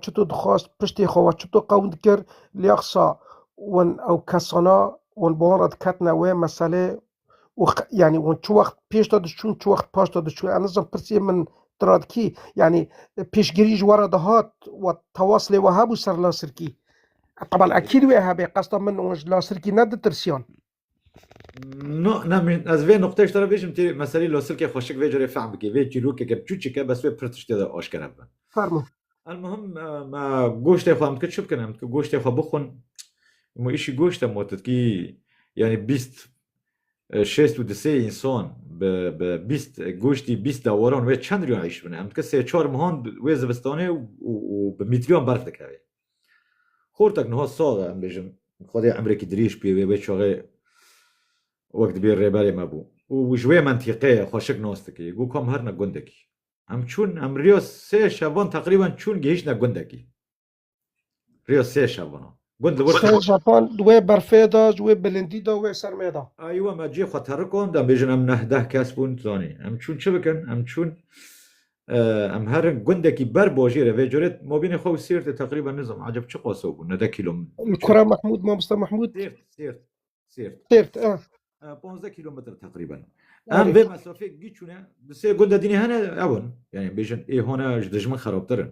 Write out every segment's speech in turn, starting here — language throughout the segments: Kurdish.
çito dixwest, piştê xwe we çito qewn dikir, lê qisa wan ew kesana wan bi wan re diketine wê meselê û yanî wan çi wext pêş de diçûn çi wext paş de diçûn ez nizan pirsê min tu re dikî yanî pêşgirî ji we re dihat we tewas lê we hebû ser lasirkî teban ekîd wê hebe qesda min wan ji lasirkî ne ditirsiyan. No, ne min ez vê nokteyê ji te re bêjim têrê meselî losilkê xweşik vê carê fehm bikî. Vê çîrokeke biçûçik e bes wê pir tiştê de aşkere bibe. Fermo. Elmuhim me goştê xwe em dikir çi bikin em dikir goştê xwe bixwin mu îşî goşt e mu tu dikî yanî bîst şêst û disê însan bi bi bîst goştî bîst dewaran wê çend riyan îş bine em dikir sê çar mihan wê zivistanê û û bi mîtriyan berf dikevê. Xortek niha sax e em bêjin. Xwedê emrekî dirêj pê bê, wê çaxê wek dibê rêberê me bû û ji wê mentîqeyê xweşik nas dikê. Got ku em herine gundekî. Em çûn, em riya sê şevan teqrîben çûn gihîştine gundekî. Riya sê şevan a. Gund li wir Sê tê. şevan ji wê berfê de, ji wê bilindî de, wê sermê de. Aywa me cê xwe terikand, em bêjin em neh deh kes bûn zanî. Em çûn çi bikin? Em çûn Em her gundekî ber bojê re vê curê mobînê xwe û sêrtê teqrîben nizam aceb çi qaso bû nede kilometre. Kura Mahmud Mamosta Mahmud sêrt sêrt sêrt sêrt a 15 kilometre teqrîben. Em vê mesafê giçûne di sê gunde dînê hene ew in. Yani bêjin ê hona ji dijmin xerabtir in.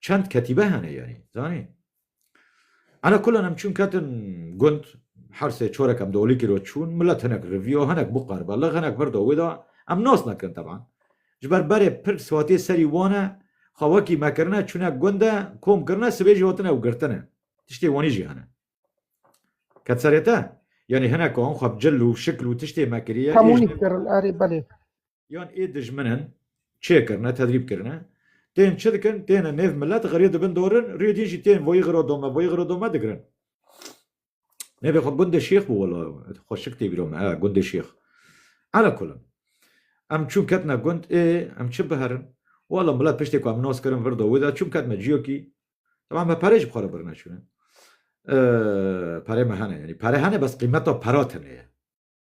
Çend ketîbe hene yanî zanî. Ana kulan em çûn ketin gund hersê çorek em dolîkî ro çûn milet hinek riviyo hinek bû qariba lix hinek vir do wê da em nas nekirin teban. Ji ber berê pir swatiyê serî wan e xwe wekî me kirine çûne gund e kom kirine sibê jî hotine ew girtine. Tiştê wanî jî hene. Ket serê te? Yanî hinek an xwe bi cil û şikl û tiştê me kiriye. Hemû nî kirin erê belê. Yan ê dijminin çê kirine, tedrîb kirine. Tên çi dikin? Têne nêv millet xirê dibin dorin, rê din jî tên voyî xiro dome, voyî xiro dome digirin. Nêvê xwe gundê şêx bû wela xwe şik tê bîro me he gundê şêx. Ala kulin. Em çûn ketine gund ê em çi biherin? Wela millet piştê ku em nas kirin vir da wê de çûn ketine ciyokî. Taban me perê ji xwe re birine çûne. Perê me hene yanî pere hene bes qîmeta pera tune ye.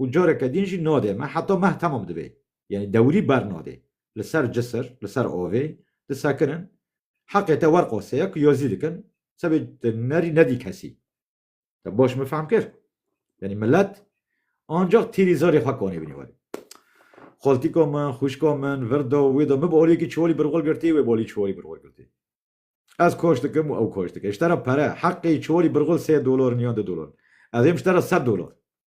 û careke din jî nadê meh heta meh temam dibê yanî dewrî bernadê li ser cisir li ser avê disekinin heqê te werqasê ya ku yazî dikin sebê te nerî nedî kesî te baş min fehm kir yanî milet ancak tîrî zarê xwe kanê binî werê Xaltîka min, xwîşka min, vir da, wê da, min bi aliyekî çiwalî bi rixwe girtî, wê bi aliyê çiwalî bi rixwe girtî. Ez kaş dikim û ew kaş dike. Ji te re pere, heqê çiwalî bi rixwe sê dolar in yan du dolar in. Ez êm ji te re sed dolar.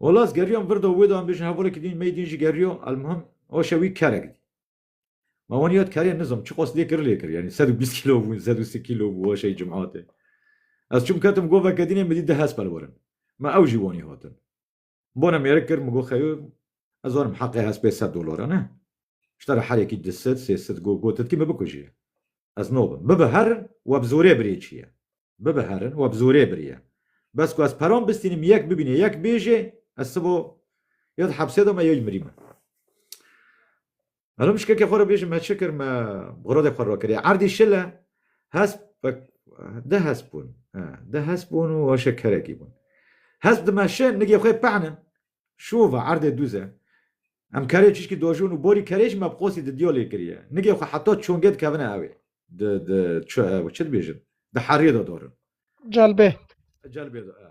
Olaz geriyan vir da wê da em bêjin hevalekî din mey din jî geriya elmuhim ew şewî kerek dî. Ma wan yad kerê nizam çiqas lê kir lê kir yanî sed û bîst kîlo bûn sed û si kîlo bû weşey cumate. Ez çûm ketim go vekedînê min dît di hespel werin. Ma ew jî wanî hatin. Bana mêrik kir min go xeyo Ez zanim heqê hespê sed dolara ne. Ji te re herekî du sed, sê sed got gotit kî min bikujî. Ez nabim. Bibe herin we bi zorê birî çi ye. Bibe herin we bi zorê birî ye. Bes ku ez peran bistînim yek bibîne yek bêje ez sibo ya di hepsê de me ya yê mirî me. Elo min şikekê xwe re bêjim me çi kir me xirodê xwe rokiriye. Erdî şil e hesp de hesp bûn de hesp bûn û weşê kerekî bûn. Hesp dime şin nigê xwe pehnin şûva erdê dûz e. Em kerê çişkî dojûn û borî kerê jî me bi qosî di diyolê kiriye. Nigê xwe heta çongê dikevine ewê. Di di çi dibêjin di herî de dorin. Celbê. Celbê de e.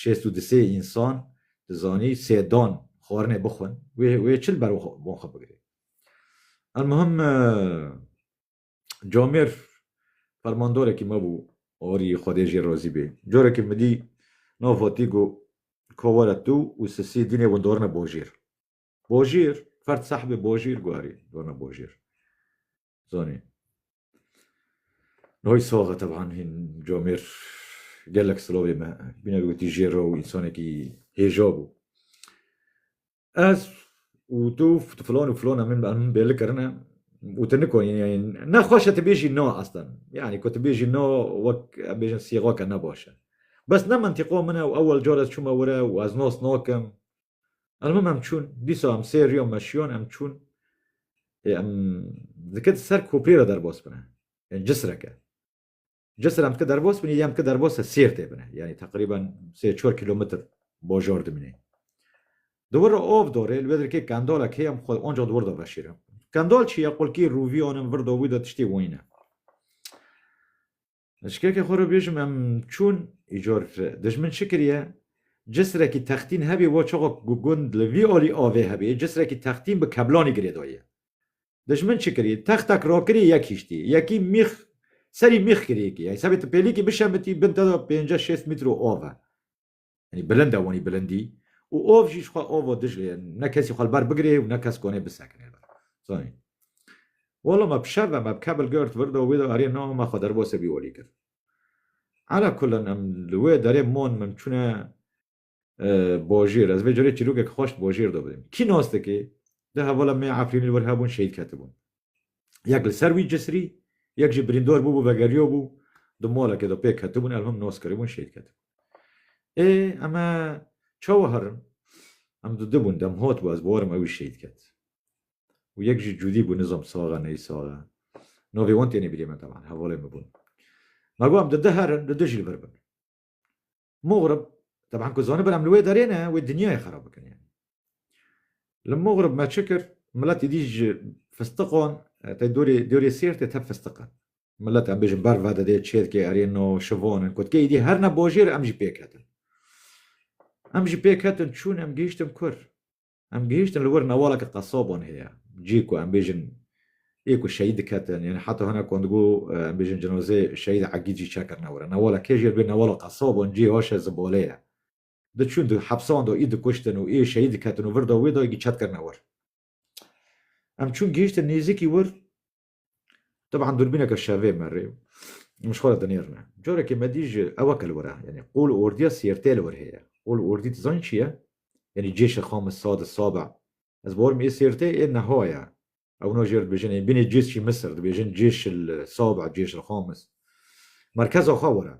Şêst û disê însan dizanî sê dan xwarinê bixwin wê wê çi li ber wan xwe bigirê. Elmuhim Camêr fermandarekî me bû arî Xwedê jê razî bê. Carekî min dî nav hatî got ka were tu û Sisî dînê windarine bajêr. Bajêr, ferd sahibê bajêr got erê darine bajêr. Zanî. Noy saxe teban hîn camêr gelek silavê me bîne gotî jêra û însanekî hêja bû. Ez û tu filan û filan min min bêli kirine û tu nikonî ne xweş e tu bêjî na eslan. Yanî ku tu bêjî na wek em bêjin sîxake ne baş e. Bes ne mentiqa min e û ewel car ez çûme were û ez nas nakim. Elmim em çûn, dîsa em sê riyo meşiyon em çûn. Ê em dike di ser koprê re derbas bine. Ê cisreke. Cisr em dike derbas binê yê em dike derbas se Sêrtê bine. Yanî teqrîben sê çar kîlometr bajar dimînê. Di wir re av dore, li wê dirkê kendalek heye em xwe ancax di wir de veşêre. Kendal çi ye? Qulkî, rûvî, anin, vir, dawî de tiştê wayî ne. Ji keke xwe re bêjim em çûn îcor dijmin çi kiriye? Cisrekî textîn hebî bo çaxa ku gund li vî alî avê hebî cisrekî textîn bi keblanî girêdayiye. Dijmin çi kirî? Textek rakirî yek hîştî. Yekî mîx serî mîx kirî yekî. Hesabê tu pêlîkî bişemitî bin te de pênceh şêst mîtro av e. Yanî bilind e wanî bilindî û ov jî jixwe ov o Diclê ye. Ne kesî xwe li ber bigirê û ne kes konê bisekine li ber. Zanî. Walo me bi şer ve me bi kebil girt vir do wê de erê no me xwe derbasê bî olî kir. Ala kullin em li wê derê mon min çûne bajêr. Ez vê carê çîrokek xweş di bajêr de bidîm. Kî nas dike? Di hevala me Efrînê li wir hebûn şehîd ketibûn. Yek li ser wî cisrî, yek jî birîndor bûbû vegeriyobû, di molekê de pêk ketibûn, ev him nos kiribûn, şehîd ketibûn. Ê eme çawa herin? Em du dibûn, dem hot bû, ez bi werim ewî şehîd ket. Û yek jî cûdî bû, nizam sax e, neyî sax e. Navê wan tênê birî min teban, hevalên min bûn. Me got em di di herin, di di jî li vir bin. Mugrib, teban ku zanibir em li wê derê ne, wê dinyayê xerab bikin yanî. Li Mugrib me çi kir? Milet êdî ji fistiqan, tê dorê, dorê Sêrtê tep fistiq e. Milet em bêjin ber vedidê, çêtkê erê no, şivan in, kutkê êdî her ne bajêr e em jî pêk hetin. Em jî pêk hetin, çûn em gihiştin kur. Em gihîştin li wir newaleke qesaban heye, cihê ku em bêjin ê ku şehîd diketin yanî heta hinek wan digo em bêjin cinazê şehîd Egîd jî çekirine wir e. Newala kê jî li vê newala qesaban cihê haşe zibale ye. Diçûn di hepsan de ê dikuştin û ê şehîd diketin û vir de wê de ê çet kirine wir. Em çûn gihîştin nêzîkî wir Teban durbîneke şevê me rê min ji xwe re dinêrine. Carekê me dî ji ew eke li wir e. Yanî qol û ordiya sêrtê li wir heye. Qol û ordî dizanî çi ye? Yanî cêşê xamis sade sabe. Ez bawer im ê sêrtê ê niha ye. Ew wina jê re dibêjin. Yanî bînê cês jî Misir dibêjin cêşê li sabe, cêşê li xamis. Merkeza xwe wir e.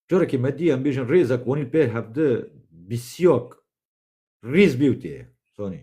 Carekê me dî em bêjin rêzek wanîn pê hevdi bîsyak rîz bê û tê ye. Zanî.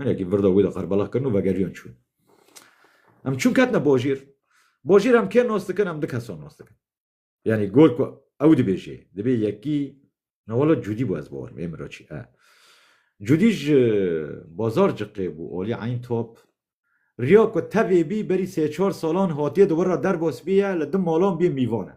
Hinekî virda wî de qerbala kirin û vegeriyan çûn. Em çûn ketine bojîr. Bojîr em kê nas dikin, em du kesan nas dikin. Yanî gor ku ew dibêjê, dibê yekî na wela Cûdî bû ez bawerim ê min re çi e. Cûdî ji bazar ciqê bû alî eyn top. Riya ku tevê bî berî sê çar salan hatiye di wir re derbas bîye li di malan bîye mîvan e.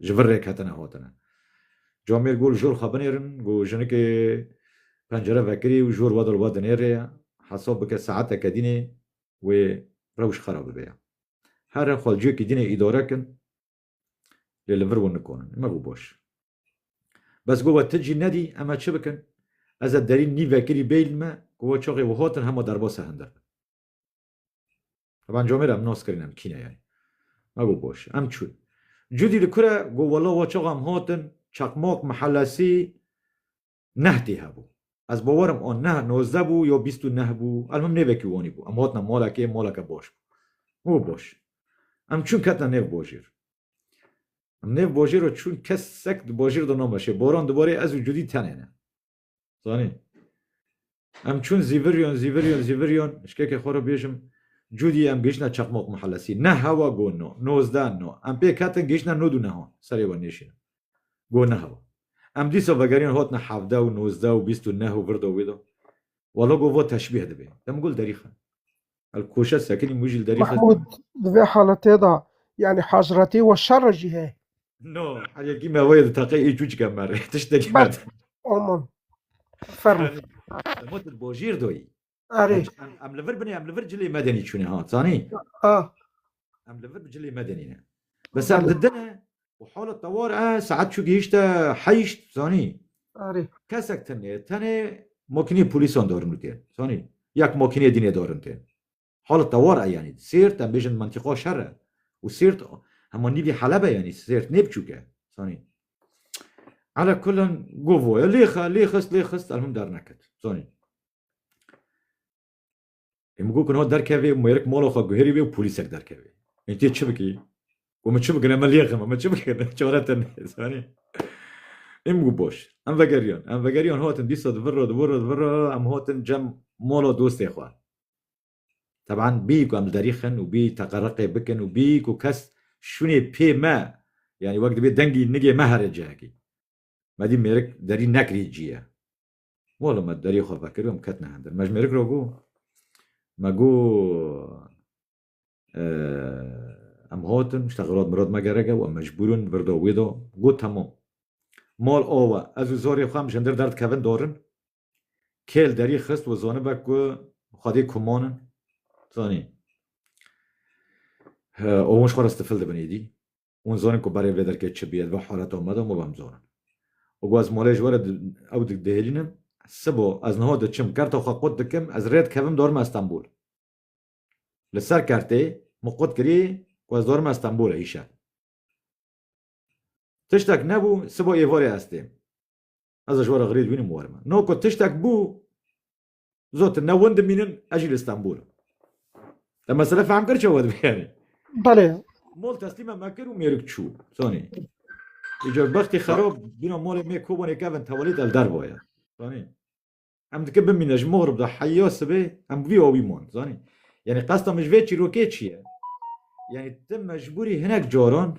ji vir rêk hatine hatine. Comêr gul jor xwe binêrin ku jinikê pencere vekirî û jor wedil we dinêrê ye. Hesab bike saeteke dînê wê rewş xera bibe ye. Here xwe ciyekî dînê îdare kin lê li vir wan nikanin. Me got baş. Bes got we ti cî nedî em ê çi bikin? Ez ê derî nî vekirî bêyîn me ku we çaxê we hatin hema derbasa hindir bin. Evan comê re em nas kirin em kîne yani. Me got boş em çûn. Cudî li kure got wela wa çaxa em hatin çakmak mihelesî neh tê hebû. Ez bawer im a neh nozdeh bû ya bîst û neh bû elmim nêvekî wanî bû. Em hatine malekê maleke baş bû. Me got baş. Em çûn ketine nêv bajêr. Em nêv bajêr re çûn kesek di bajêr de nameşê. Baran dibarê ez û Cudî tenê ne. Zanî? Em çûn Zîviryon, Zîviryon, Zîviryon, şikeke xwe re bêjim, cûdî em gihiştine Çaqmok Mihellesî, neh hewa go no, nozdeh no, em pêk hetin gihiştine nod û nehan, serê we nêşînin. Go ne hewa. Em dîsa vegeriyan hatine hevdeh û nozdeh û bîst û neh û vir de wê de. Walla go va teşbîh dibê. Demgul derîxin. El koşe sekinî mû jîl derî xist. Mahmud di vê haletê de yani hazretî we şer jî heye. No, heye gî me wê li teqê ê çû çike me rê. Tiştekî me. Bert. Aman. Fermo. Motir bojîr doyî. Erê. Em li vir binê em li vir cilê medenî çûne ha zanî. Ha. Em li vir bi cilê medinî ne. Bes em li din e û hala tewar e saet çû gihîşte heyşt zanî. Kesek tenê tenê makinê polîsan darin û tê. Zanî yek makinê dînê darin tê. Hala tewar e yanî sêrt em bêjin mentiqa şer e û sêrt hema nîvî helebe yanî sêrt nê biçûk e. Zanî Ala kulan govoya lêxa lêxist lêxist elhum derneket. Zanî Ê min got ku niha derkevê û mêrik mala xwe guherî wê û polîsek derkevê. Ê tu yê çi bikî? Got min çi bikin em lêxim em çi bikin çare te ne zanî. Ê min got baş em vegeriyan em vegeriyan hatin dîsa di vir re di vir re di vir re em hatin cem mala dostê xwe. Teban bî ku em li derî xin û bî teqereqê bikin û bî ku kes şûnê pê me yanî wek dibê dengî nigê me here cihekî. Me dî mêrik derî nekirî cî ye. Walo me deriyê xwe vekir em ketine hindir. Me ji mêrik re got me got em hatin ji texelat mirad me gerek e û em mecbûr in vir da wê da got temam. Mal awe ez û zarê xwe em ji hindir derdikevin darin. Kêl derî xist û zanibe ku xwedê kuman in. Zanî. Ewin ji xwe re stifil dibin êdî. Hûn zonin ku berê vê derkê çi bîye, di vê haleta me de hûn bem zonin. Û ku ez malê ji we re ew dik dihêlînim, sibo ez niha diçim, kerta xwe qut dikim, ez rê dikevim dorime Stenbol. Li ser kertê min qut kirî ku ez dorime Stenbolê îşev. Tiştek nebû, sibo êvarê ez têm. Ez ji we re xirîd bînim û werime. No ku tiştek bû, Zotin ne win dimînin ez jî li Stenbol im. Te mesele fehm kir çawa dibe yani. Belê. Mol teslîme me kir û mêrik çû. Zanî. Îcar bextê xerab bîna malê me kobanê kevin tewelî del dervaya. Zanî. Em dike bimîne ji mohrib de heya sibê em bi vî awî man zanî. Yani qesta min ji vê çîrokê çi ye? Yani te mecbûrî hinek caran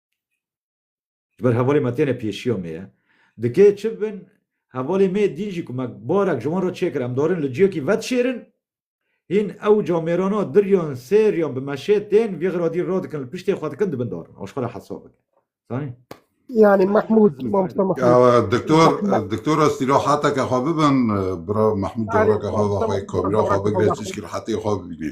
Ji ber hevalê me têne pêşiya me ye. Dikê çi bin, hevalê me dîn jî ku me barek ji wan re çêkir, em darin li ciyekî vedişêrin, hîn ewca mêrana diriyan, sêriyan bi meşê tên vî xiradî radikin, li piştê xwe dikin, dibin darin. Aşqe re hesab bike. Zanî? Yanî Mehmûd, mamosta Mehmûd. Diktor, diktor ez îrahateke xwe bibin, bira Mehmûd careke xwe ve xwe kamîra xwe bigire, tişkî rehetê xwe bibînê.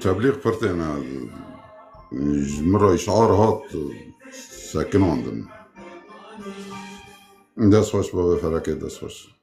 Tebliq pirtêne ji min re îşar hat sekinandin. Dest xweş bavê Felekê dest xweş.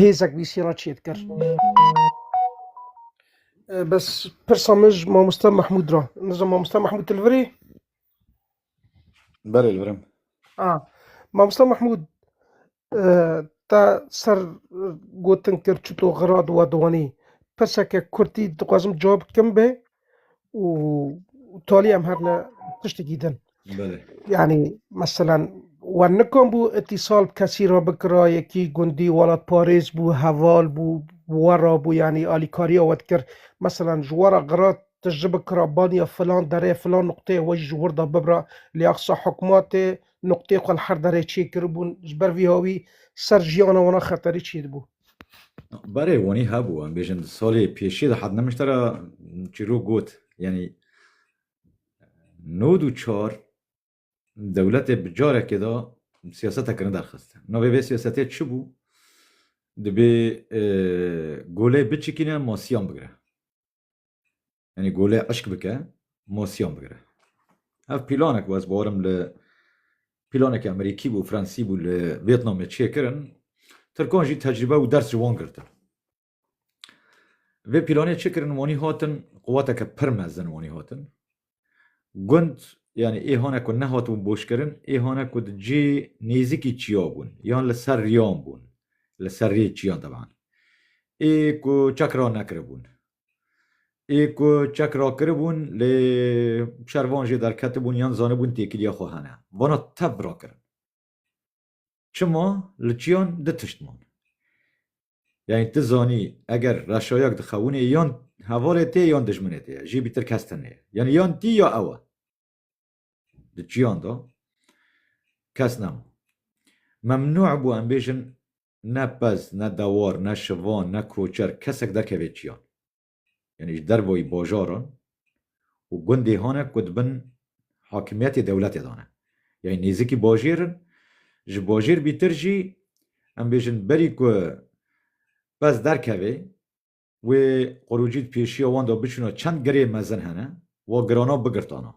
hêzek vîsî re çêt kir. Bes pirsa min ji mamoste Mehmûd ra. Nizam mamoste Mehmûd tilvirê? Berê li virim. A mamoste Mehmûd te ser gotin kir çito xira di we diwanî. Pirseke kurtî dixwazim cawab bikim bê û tolî em hebne tiştekî din. Belê. Yanî meselan we nikom bû îtîsal bi kesî re bikira yekî gundî welatparêz bû heval bû we re bû yanî alîkariya we dikir meselan ji we re gira tu ji bikira baniya filan derê filan nuqteyê we jî ji wir de bibira lê axsa hikûmatê nuqteyê xwe li her derê çêkiribûn ji ber vî hawî ser jiyana wana xeterî çêdibû. Berê wanî hebû em bêjin salê pêşê de hat nemişte ra çîrok got yanî nod û çar dewletê bi carekê de siyaseta kirin derxist. Navê vê siyasetê çi bû? Dibê golê biçikîne masiyan bigire. Yanî golê eşk bike û mosyon bigire. Ev pîlanek bû ez bawerim li pîlanekî Amerîkî bû, Fransî bû li Vêtnamê çêkirin. Tirkan jî tecrîbe û ders ji wan girtin. Vê pîlanê çêkirin wanî hatin quweteke pir mezin wanî hatin. Gund yanî êhane ku nehatibûn boşkirin êhane ku di cê nêzîkî çiya bûn yan li ser riyan bûn li ser rê çiyan teban. Ê ku çekra nekiribûn ê ku çek rakiribûn lê şervan jê derketibûn yan zanibûn têkiliya xwe hene. Vana tev rakirin. Çima li çiyan du tişt man. Yanî tu zanî eger reşayak di xewûnê yan hevalê tê yan dijminê tê ye. Jî bîtir kes tune ye. Yanî yan tî ya ew e. Di çiyan de kes nema. Memnû bû em bêjin Ne pez, ne dewar, ne şivan, ne koçer kesek derkeve çiyan. Yanî ji dervayî bajaran û gundê hane ku di bin hakimiyetê dewletê de ne. Yanî nêzikî bajêr in. Ji bajêr bîtir jî em bêjin berî ku pez derkeve wê qurûcî di pêşiya wan de biçûna çend girê mezin hene wa girana bigirtana.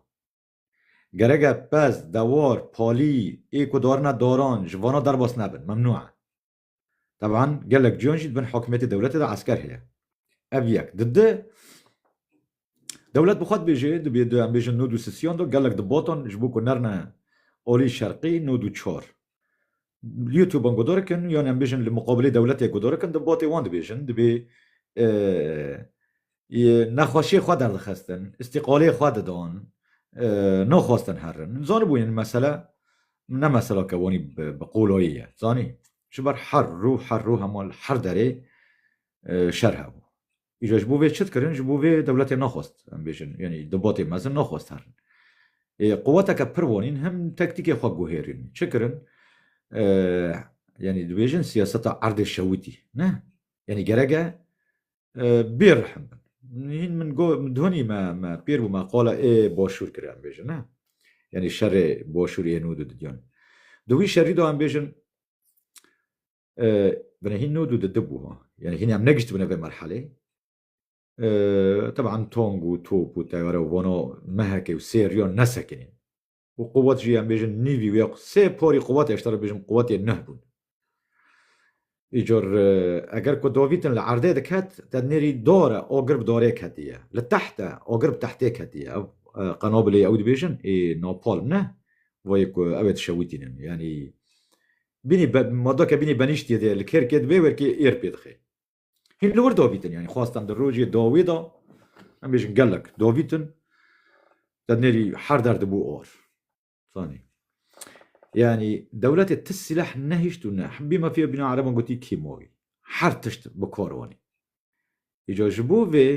Gereke pez, dewar, palî ê ku darine daran ji vana derbas nebin, memnû e. Teban gelek cuyan jî di bin hakimiyetê dewletê de esker heye. Ev yek. Di du, dewlet bi xwe dibêje, dibê em bêjin nod û sisiyan da gelek di batan ji bo ku nerine alî şerqî nod û çar. li YouTube an gudo dikin yan em bêjin li muqabilê dewletê gudo dikin di botê wan dibêjin dibê nexweşiyê xwe derdixistin, îstîqalê xwe didan, naxwestin herin. Zanibû yên mesele ne mesela ke wanî bi qolayê ye zanî ji ber her rû her rû hema li her derê şer hebû. Îcar ji bo vê çi dikirin? Ji bo vê dewletê nexwest em bêjin yanî di botê mezin nexwest herin. Ê quweteke pir wanîn him tektîkê xwe guhêrîn. Çi kirin? Yanî dibêjin siyaseta erdê şewitî ne? Yanî gerek e bê rihim bin. Hîn min got min donî me me pêr bû me qala ê başûr kir em bêjin ne? Yanî şerê başûrê ê nû di didiyan. Di wî şerî de em bêjin هین nû dû di di bû ha. Yanî hîn em negiştibûne vê merhelê. Teban tong û top û teyare û vano mehekê û sê riya nesekinîn. Û quwet jî em bêjin nîvî wê sê porî quwetê heşt re bêjim quwetê neh bûn. Îcar eger ku dovîtin li erdê diket te nêrî dar e agir bi darê ketiye. Li teht e agir bi tehtê ketiye. Ew qenobilê ew dibêjin ê napalm ne. Wayê ku ew ê dişewitînin. Yanî Bînî be ma do ke bînî benîştîye de li kêrkê di vê werkê êr pê dixê. Hîn li wir davîtin yanî xwestan di rojê dawê de em bêjin gelek davîtin te nêrî her der dibû or. Fanî. Yanî dewletê ti sîleh nehişt û ne hibî me fê bîna ereban gotî kîmawî. Her tişt bi kar anî. Îca ji bo vê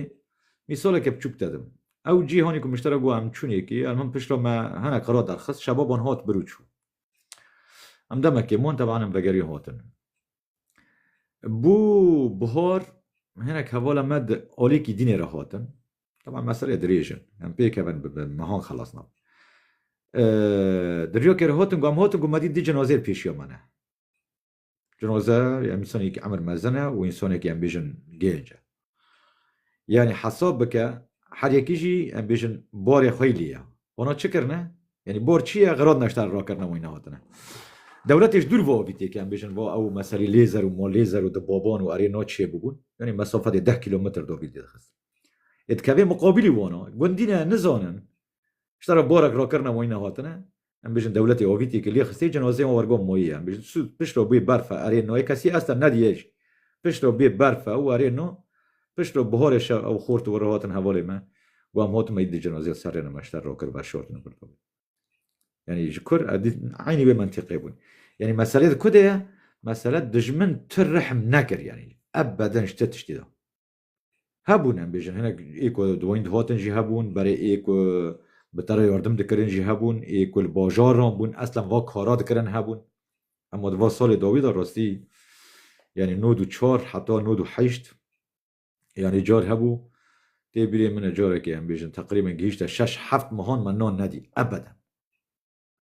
mîsaleke biçûk te dim. Ew cîhanê ku miştera got em çûnê kî, erm him pişt re me hinek xira derxist, şebaban hat bir û çû. Em demekê mon teban em vegeriyên hotin. Bû bihar hinek hevala me di alêkî dînê re hatin. Teban meselê dirêj in. Em pêkevin bi mehan xelas nab. Di riyokê re hatin ku em hatin ku me dît di cinazeyê pêşiya me ne. Cinozer ya însanekî emir mezin e û însanekî em bêjin gênc e. Yanî hesab bike her yekî jî em bêjin barê xwe lî ye. Wana çi kirine? Yanî bar çi ye? Xirad neşter rakirine wî nehatine. Dewletê ji dûr va avî têke em bêjin va ew meselî lê zer û ma lê zer û di baban û erê na çiyê bûbûn. Yanî mesafetê deh kîlometr davî didixist. Ê dikevê miqabîlî wana gundî ne nizanin Ji tara borek rakirina moyî nehatine, em bêjin dewletê avîtî ki lê xistê cinazeyê wan wergo moyî ye. Em bêjin tu piştre bê berf e erê no yê kesî ester nedîyê jî. Piştre bê berf e û erê no piştre biharê şev ew xort û were hatin hevalê me û em hatime îdî cinazeya serrê ne me ji ter rakir ver şortine vir dabin. Yanî ji kur e dît eynî wê mentîqê bûn. Yanî meselê di ku de ye? Mesele dijmin tu rihm nekir yanî ev beden ji te tiştî da. Hebûn em bêjin hinek ê ku di wayîn dihatin jî hebûn, berê ê ku bi te re yardim dikirin jî hebûn, ê ku li bajaran bûn eslan va kara dikirin hebûn. Ema di va salê dawî de rastî yanî nod û çar heta nod û heşt yanî car hebû tê bîrê min e carekê em bêjin teqrîben gihîşte şeş heft mehan me nan nedî ebeden.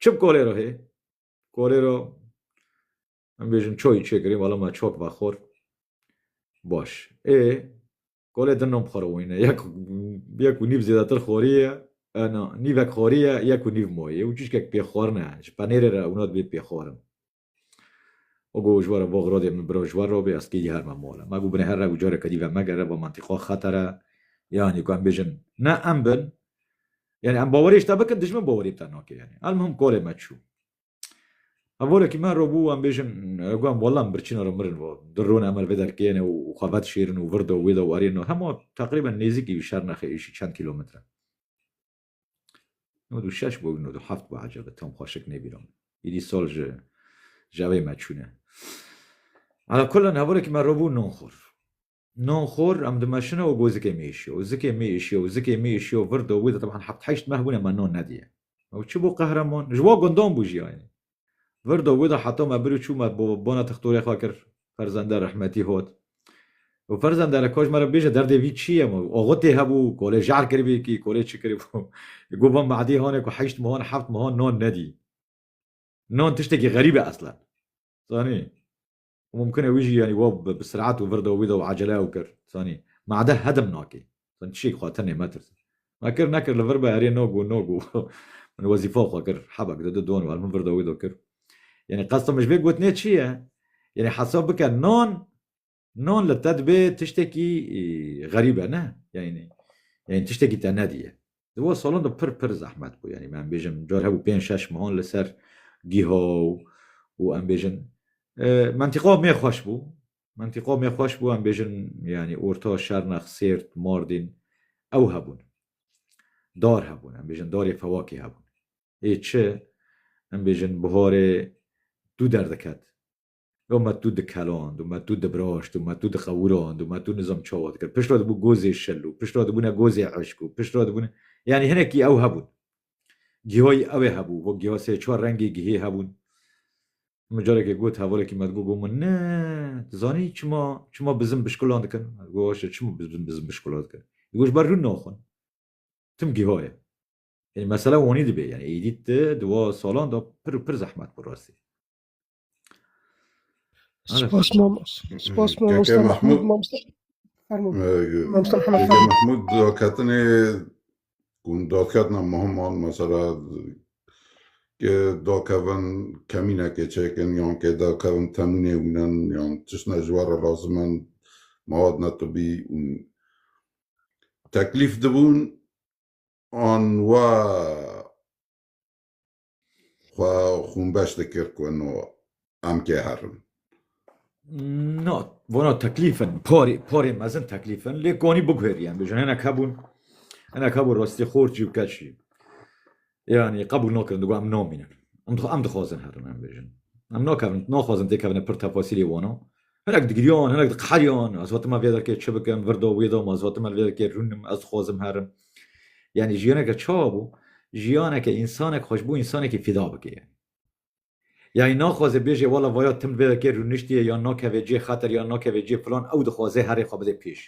Çi bi kolê re hê? Kolê re em bêjin çoyî çêkirî wala me çok vexor. Baş. Ê kolê din nam xora wîne. Yek yek û nîv zêdetir xorî ye. Ana nîvek xorî ye, yek û nîv moyê. Û çîşkek pêxwarine. Ji penêrê re ûnat bê pêxwarin. O go ji were bo xirodê min biro ji wer re bê ez kêdî her me mole. Ma go binê her re û careke dî ve megere bo mantîqa xetera yanî ku em bêjin ne em bin yanî em bawerê ji te bikin dijmin bawerê bi te nake yanî. Elmuhim kolê me çû. Hevorekî me re bû em bêjin got walla em birçîna re mirin vat di rûn em li vê derkeyêne û xwe vedişêrin û vir de wê de û erê de hema teqrîben nêzîkî şernexê êşî çend kîlometre. No du şeş bû no du heft bû ecebe tam xweşik nêbîram. Îdî sol ji jawê me çûne. Ala kulan hevorekî me robû non xor. Non xor em dimeşine û got zikê mê îşiyo û zikê mê îşiyo û zikê mê îşiyo vir do wî de teban heft heşt meh bûne me non nedîye. Ew çi bû qehreman? Ji wan gundan bû jî aynî. Virdo wida heta me bir û çû me bo bona tixtorê xwe kir, ferzende rehmetî hot. Û ferzende re kaş me re bêje derdê vî çi ye? Axutê hebû, kolê jehr kiribî kî, kolê çi kiribû. Got van Madî hanê ku heşt mehan, heft mehan nan nedî. Nan tiştekî xerîb e eslen. Zanî? û mumkin e wî jî yanî wa bi sirat û vir de û wî de û acele ew kir zanî ma de hedim nakê zanî tişek xwe tenê metirse ma kir nekir li vir be erê no go no go min wezîfa xwe kir hebe gide du don war min vir de wî de kir yanî qesta min ji vê gotinê çi ye yanî hesab bike nan nan li te dibê tiştekî xerîb e ne yanî yanî tiştekî te nediye Di van salan de pir pir zehmet bû. Yanî me em bêjin car hebû pênc şeş mehan li ser gîha û em bêjin mentîqa me xweş bû. Mentîqa me xweş bû em bêjin yanî orta şernex, sêrt, mardîn ew hebûn. Dar hebûn em bêjin darê fewakê hebûn. Ê çi em bêjin biharê dû derdiket. Yo me tu dikeland û me tu dibraşt û me tu dixewirand û me tu nizam çawa dikir. Pişt re dibû gozê şil û pişt re dibûne gozê eşk û pişt re dibûne yanî hinekî ew hebûn. Gihayî ew ê hebû. Bo giha sê çar rengê gihê hebûn. Min carekê got hevalekî me digot min ne tu zanî çima çima bizim bişkulan dikin? Ez got waşe çima bizim bizim bişkulan dikin? Di got ji ber rûn naxwin. Tim giha ye. Yanî mesele wanî dibê. Yanî êdî ti di wa salan de pir û pir zehmet bû rastî. Spas mam, spas mam Keke Mustafa Mahmud. Mahmud, mam Mustafa. Pardon, mam Mustafa Keke Muhammad. Mahmud dodketinê hûn dodketina muhim an mesela ke dodkevin kemînekê çêkin yan ke dodkevin temûnê wînin yan tiştine ji we re lazim in mewad netibî û teklîf dibûn an wa Xwe xûnbeş dikir ku no em kê herin. No, vona teklîfin, parê, parê mezin teklîfin, lê konî biguherî em bijin. Hinek hebûn, hinek hebûn rastî xorçî û keçî. Yani qebûl nakirin, digo em namînin. Em em dixwazin herin em bijin. Em nakevin, naxwazin têkevine pir tefasîlê wana. Hinek digiriyan, hinek diqeheriyan, ez hatime vê derkê çi bikim, vir da wê da me, ez hatime li vê derkê rûnim, ez dixwazim herim. Yanî jiyaneke çawa bû? Jiyaneke însanek xwe ji bo însanekî fîda bike yanî. Yanî naxwaze bêje wela vaya tim li vê derkê rûniştiye yan nakeve cihê xeter yan nakeve cihê filan, ew dixwaze herê xwe bide pêş.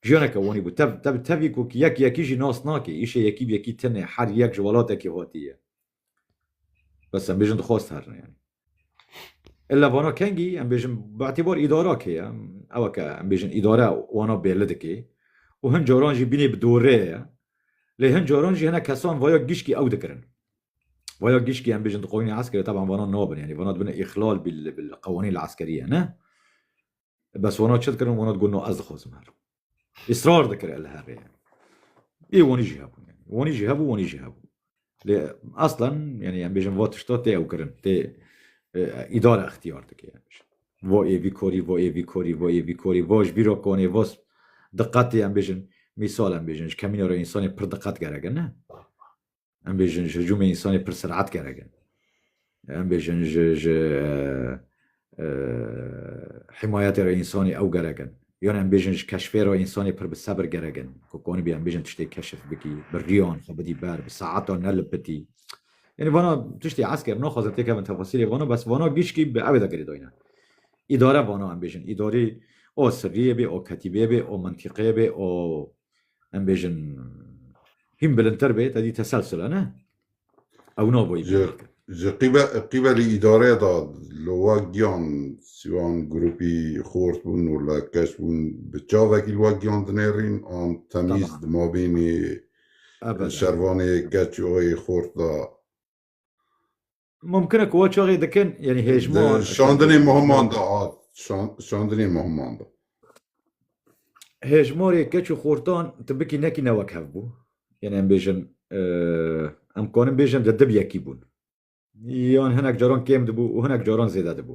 Jiyaneke wanî bû tev tev tevî ku ki yek yekî jî nas nake, îşê yekî bi yekî tine, her yek ji welatekê hatî ye. Bes em bêjin dixwast herine yanî. Î levana kengî em bêjin bi'tîbar îdara kê ye, ew ke em bêjin îdare wana bêrli dike û hin caran jî bînê bi dorê ye. Lê hin caran jî hinek kesan vaya gişkî ew dikirin. Vaya gişkî em bêjin di qanûnê eskerê teban vana nabin yanî vana dibin îxlal bil bil qewanîl eskerî ye ne. Bes wana çi dikirin wana digot no ez dixwazim herim. Israr dikir el herê. Ê wanî jî hebûn yani. Wanî jî hebû wanî jî hebû. Lê aslan yani em bêjin va tişta tê ew kirin tê îdare ixtiyar dike yani. Va ê vî korî va ê vî korî va ê vî korî va ji bîra konê va diqetê em bêjin mîsal em bêjin ji kemîna re însanê pir diqet gerek e ne. Em bêjin ji hicûmê însanê pir sirat gerek e. Em bêjin ji ji himayetê re însanê ew gerek in. Yan em bêjin ji keşfê re însanê pir bi sebir gerek in. Ku konibî em bêjin tiştê keşif bikî, bi riyan xwe bidî ber, bi saetan nelipitî. Yanî vana tiştê esker naxwazin têkevin tefasîlê vana bes vana gişkî bi ewê de girêdayîne. Îdare vana em bêjin. Îdarî o sirriyê bê, o ketîbê bê, o mintîqê bê, o em bêjin hîn bilintir bê te dî teselsile ne ew nabûyî ji qîbelî îdareye da li wa giyan siwan grûpî xort bûn û li keş bûn bi çavekî li wa giyan dinêrîn an temîz di mabînê şervanê keç û xort da Mumkin e ku we çaxê dikin yanî hêjman. Şandinê muhiman da hat. Şandinê muhiman da. Hêjmarê keç û xortan tu bikî nekî ne wek hev bû. Yanî em bêjin em karin bêjin di dib yekî bûn. Yan hinek caran kêm dibû û hinek caran zêde dibû.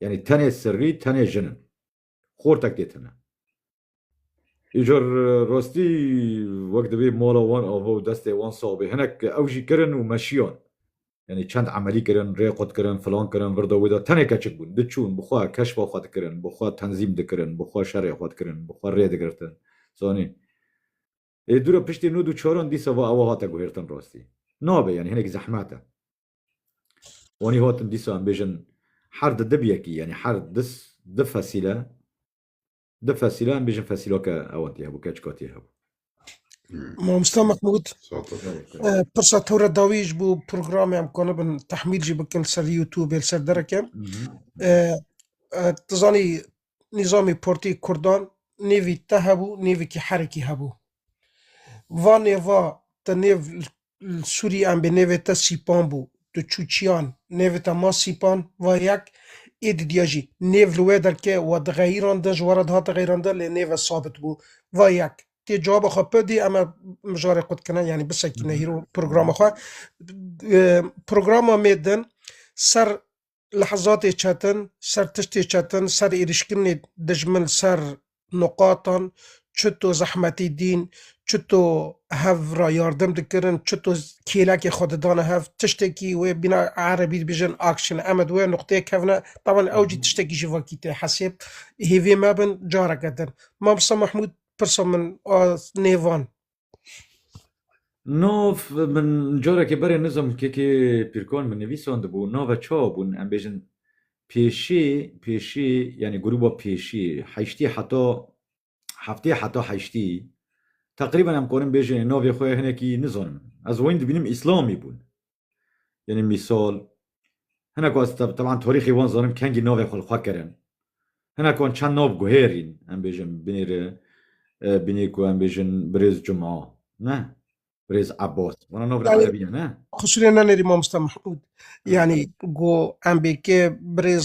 Yanî tenê sirrî tenê jin in. Xortek tê tune. Îcar rastî wek divê mala wan ava û destê wan sax bê. Hinek ew jî kirin û meşiyan. Yanî çend emelî kirin, rê qut kirin, filan kirin, vir da wê da tenê keçik bûn. Diçûn, bi xwe keşfa xwe dikirin, bi xwe tenzîm dikirin, bi xwe şerê xwe dikirin, bi xwe rê digirtin. Zanîn. Ê dûra piştî nûd û çaran dîsa va ewa hate guhêrtin rastî. Nabe yanî hinek zehmet e. Wanî hatin dîsa em bêjin her di dib yekî yanî her dis di fesîle di fesîle em bêjin fesîla ke ewan tî hebû keçika tî hebû. Mamosta Mehmûd pirsa to re dawî ji bo programê em kanibin tehmîl jî bikin ser YouTubeê li ser dereke. Ti zanî nîzamê portê kurdan nêvî te hebû nêvikî herekî hebû. Va nêva te nêv li Sûrî em bê nêvê te Sîpan bû. Tu çû çiyan nêvê te ma Sîpan va yek ê didiya jî nêv li wê derke we dixeyîrandin ji we re dihate xeyîrandin lê nêve sabit bû va yek. Tê cewaba xwe pi dî em e mijarê xwe dikine yanî bisekîne hîro programa xwe. Programa mêdin ser Lehzatê çetin, ser tiştê çetin, ser êrîşkirinê dijmin ser nuqatan, çito zehmetî dîn, çito hev ra yardim dikirin, çito kêlekê xwe didane hev, tiştekî wê bîna erebî dibêjin action. Em ê di wê nuqteyê kevine. Taban ew jî tiştekî ji vakî tê hesêb. Hêvî mebin careke din. Mamosta Mahmûd pirsa min a nêvan. Nov min carekê berê nizom kekê pîrkan min nivîsand bû nava ça bûn em bêjin pêşî pêşî yanî grûba pêşî heştî heta heftê heta heştî teqrîben em karin bêjin navê xwe hinekî nizanim ez wayîn dibînim îslamî bûn Yanî mîsal hinek wan teban tarîxê wan zanim kengî navê xwe li xwe kirin. Hinek wan çend nav guhêrîn em bêjin binê re binê ku em bêjin Birêz Cuma ne Birêz Ebas wana nav re erebî ne ne. Qusirê nenêrî mamosta Mehmûd. Yanî ku em bê kê Birêz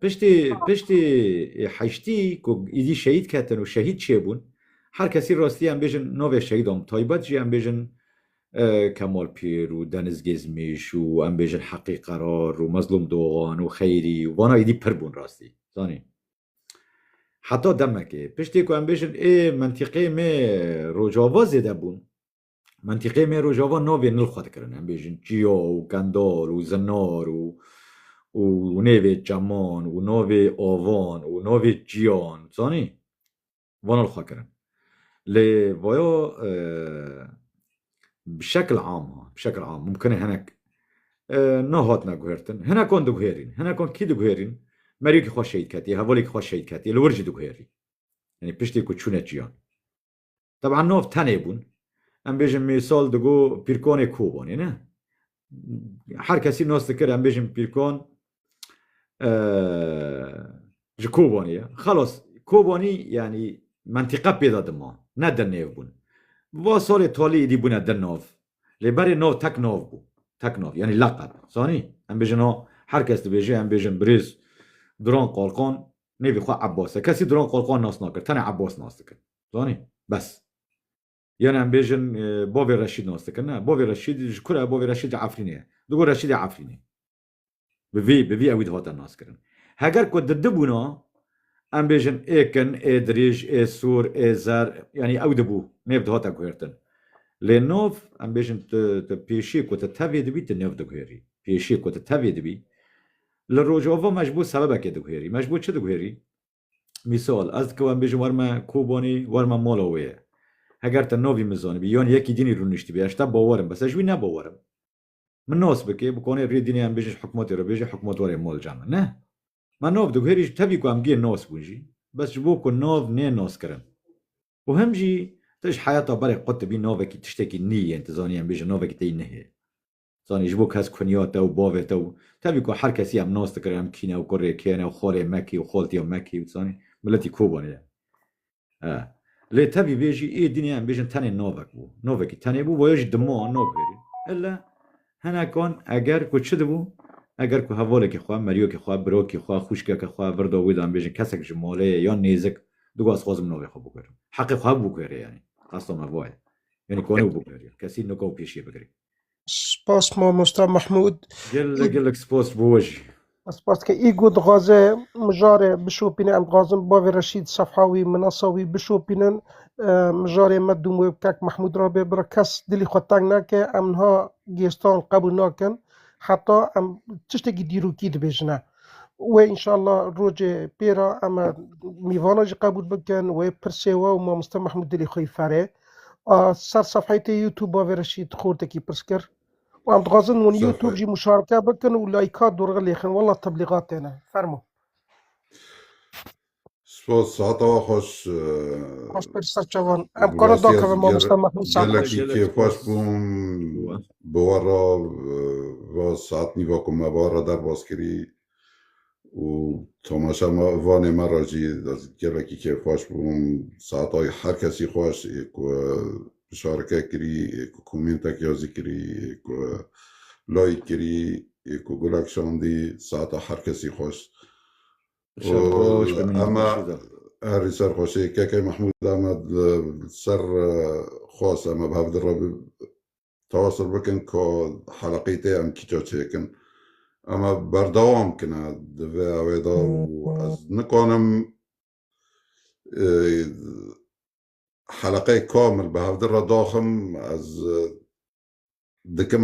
Piştî piştî heştî ku îdî şehîd ketin û şehîd çêbûn her kesî rastî em bêjin navê şehîdan bi taybet jî em bêjin Kemal Pîr û Deniz Gêzmîş û em bêjin Heqî Qerar û Mezlûm Doxan û Xeyrî û vana îdî pir bûn rastî zanî. Heta demekê piştî ku em bêjin ê mentîqeyê me Rojava zêde bûn Mentîqeyê me Rojava navê nil xwe dikirin. Em bêjin Çiyo û Kendal û Zinar û û nêvê çeman û navê avan û navê çiyan zanî van li xwe kirin. Lê vaya bi şekil am ha bi şekil am mumkinê hinek nehatine guhertin. Hinekan diguherîn. Hinekan kî diguherîn? Meriyekî xwe şehîd ketiye, hevalekî xwe şehîd ketiye li wir jî diguherîn. Yanî piştî ku çûne çiyan. Teb'an nav tenê bûn. Em bêjin mîsal digo Pîrkonê Kobanê ne? Her kesî nas dikir em bêjin Pîrkon ji Kobanê ye. Xelas Kobanî yanî mentîqe pêda dima ne di nêv bûn. Bi va salê talî êdî bûne di nav. Lê berê nav tek nav bû. Tek nav yanî leqeb. Zanî? Em bêjin ha her kes dibêje em bêjin birêz Duran Qalkan nêvê xwe Ebbas e. Kesî Duran Qalkan nas nakir. Tenê Ebbas nas dikin. Zanî? Bes. Yanî em bêjin bavê Reşîd nas dikin. Ne, bavê Reşîd ji kure? Bavê Reşîd ji Efrînê ye. Digo Reşîdê Efrînê. Bi vî bi vî ewî dihate naskirin. Heger ku di dibûna em bêjin ê kin, ê dirîj, ê sor, ê zer yanî ew dibû nêv dihate guhêrtin. Lê nav em bêjin tu tu pêşî ku tu tevê dibî tu nav diguhêrî. Pêşî ku tu tevê dibî li rojava me ji bo sebebekê diguhêrî. Me ji bo çi diguhêrî? Mîsal ez dikewim em bêjim werme Kobanî werme mala wê ye. Heger tu navî min zanibî yan yekî dînî rûniştibî ez ji te bawer im bes ez ji wî ne bawer im. Min nos bikê, bi konê rê dînê em bêjin ji hikûmetê re bêjê hikûmetwarê mol ca min. Neh. Me nov di guherî ji tevî ku em gê nos bûn jî, bes ji bo ku nov nê noskirin. Û him jî tu ji heyata berê qut dibî novekî tiştekî nî yên, tu zanî em bêjin novekî teyî nihê. Zanî ji bo kes kunya te û bavê te û tevî ku her kesî em nos dikirin em kîne û kurê kêne û xolê me kî û xoltiyê me kî û tu zanî miletî Kobanê ye. He. Lê tevî vê jî ê dînê em bêjin tenê Novak bû. Novakî tenê bû boya jî dimo an Nov verî. Ille hinekan eger ku çi dibû eger ku hevalekî xwe, meriyokî xwe, birokî xwe, xwîşkeke xwe, virda wî de em bêjin kesek ji malê ye yan nêzik digot ez xwazim navê xwe biguherim. Heqê xwe hebû biguherê yanî. Qesta me va ye. Yanî kanî bû biguherî. Kesî nika û pêşiyê bigirî. Spas mamosta Mahmûd. Gelek gelek spas bo we jî. Spas ke îgo dixwaze mijarê bişopîne em dixwazin bavê Reşîd sefha wî minasa wî bişopînin mijarê me dûm wê kek Mahmûd ra bê bira kes dilî xwe teng neke em niha gêstan qebûl nakin heta em tiştekî dîrokî dibêjine wê înşallah rojê pê ra em mîvana jî qebûl bikin wê pirsê we û mamoste Mahmûd dilî xwe ferê A ser sefheyê te Youtuba vê re şît xortekî pirs kir û em dixwazin wan Youtube jî muşareke bikin û layka dorxe lêxin. Wela teblîgat têne. Fermo. Spas, sihata wa xweş. Xweş pir serçevan. Em kara dakeve mamosta Mehmet Sa'd. Gelekî kêfxweş bûm bi we re va saet nîva ku me va re derbas kirî. û tomaşa me vanê me re jî gelekî kêfxweş bûm saetayî her kesî xweş ê ku bişareke kirî ê ku komîntek ya jî kirî ê ku layîk kirî ê ku gulek şandî saeta her kesî xweş ema herî ser xweşê keke Mehmûd ema ser xwest ema bi hev re Tewasûl bikin ku heleqeyî te yan kîto çêkin. Ema berdewam kine di vê awê de û ez nikanim heleqeyê kamil bi hevdî re daxim ez dikim